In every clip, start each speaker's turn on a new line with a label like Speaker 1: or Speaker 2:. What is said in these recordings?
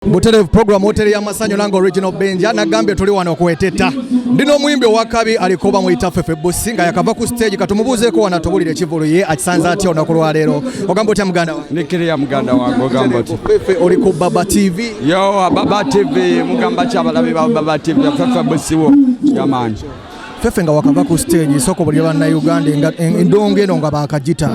Speaker 1: Buterevu program hoteli y'amasanyu nange original Benja nagambye tuli wano kweteta ndi n'omuyimbi owakabi alikuba muyita Fefe Bussi nga yakava ku stage katumubuuzeeko wano atubulire ekivulu ye akisanze atya olunaku lwaleero ogamba otya muganda wange nikiriya muganda wange
Speaker 2: ogamba otya Fefe oli ku Baba
Speaker 1: TV yo Baba
Speaker 2: TV mugamba ki abalabi ba Baba TV Fefe Bussi wo yamaanyi fefe nga
Speaker 1: wakava ku stage soko buli bana Uganda nga endongo eno nga bakajita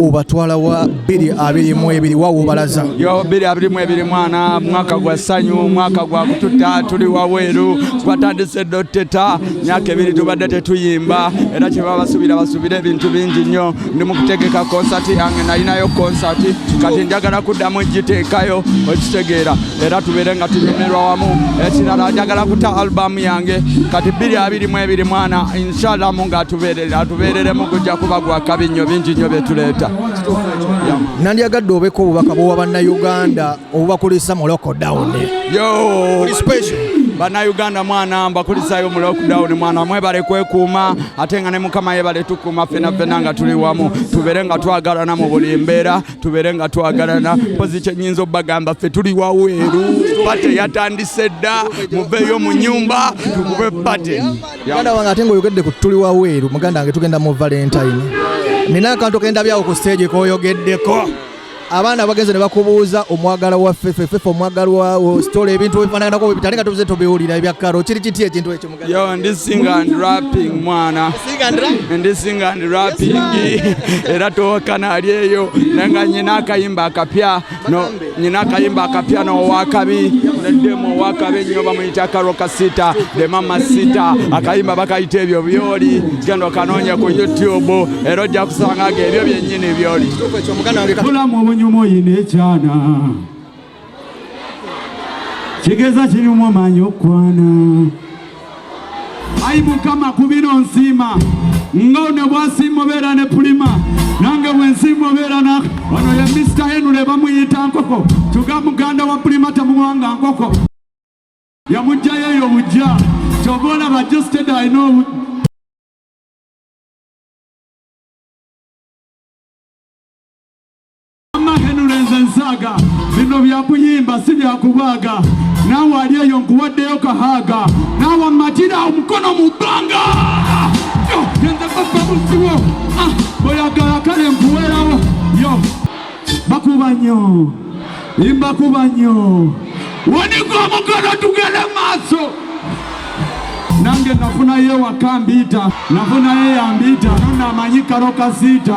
Speaker 1: obatwala wa bili abili mu ebili wa obalaza yo bili abili mu
Speaker 2: ebili mwana mwaka gwa sanyu mwaka gwa kututa tuli wa weru twatandise doteta nyake bili tubadde tetuyimba era kye babasubira basubira ebintu bingi nnyo ndi mukutegeka konsati yange nalinayo konsati kati njagala kuddamu njiteekayo okitegeera era tubeere nga tunyumirwa wamu ekirala njagala kuta albamu yange kati bbiri abiri mu ebiri mwana inshalamu nga atubeerere atubeereremu gujja kuba gwakabi nnyo bingi nnyo byetuleeta
Speaker 1: nandyagadde obeko obubaka bwowa bannayuganda obubakulisa mu lockdown bannayuganda
Speaker 2: mwana mbakulisayo mu lockdown mwana mwebale kwekuuma ate nga ne mukama yebale tukuuma fena fena nga tuli wamu tubeere nga twagalana mu buli mbeera tubeere nga twagalana mpozi kyenyinza obagamba ffe tuli waweeru pate yatandise dda muveeyo mu nyumba tukube pate muganda wange ate
Speaker 1: ngaoyogedde ku tuli waweeru muganda wange tugenda mu valentine nina akantu kendabyawo ku stage koyogeddeko abaana abagenze ne bakubuuza omwagala wa fefe fefe omwagala wa story ebintu ebifaanaganako bibitali nga tubuze tubiwulira ebya karo kiri kiti ekintu ekyo yo ndi sing and
Speaker 2: rapping mwana ndi sing and rapping era towakana ali eyo naye nga nyina akayimba akapya nyina akayimba akapya nowakabi neddemu owakabi ennyo bamuyita karo kasita the mama sita akayimba bakayita ebyo byoli genda okanoonya ku youtube era ojja kusanga nga ebyo byenyi bulamu
Speaker 1: obunyuma oyina ekyana
Speaker 3: kigeza kirimu omanyi okukwana ayi mukama ku bino nsiima nga one bwasiima obeera ne pulima nange bwensiima obeera na ono ye mr henule bamuyita nkoko tuga muganda wa pulima tamuwanga nkoko yamugjayo eyo bujja kyova olaba justed i know Henuleze nsaaga bino byakuyimba si byakubaaga naawe ali eyo nkuwaddeyo kahaaga naawe mmatira omukono mu bbanga genze papa musiwo ah, oyagala kale nkuwerawo yo bakuba nnyo mbakuba nnyo wanika omugalo tugere maaso nange nafunayo ewaka mbiita nafunayo eyambiita nona amanyi karo kasiita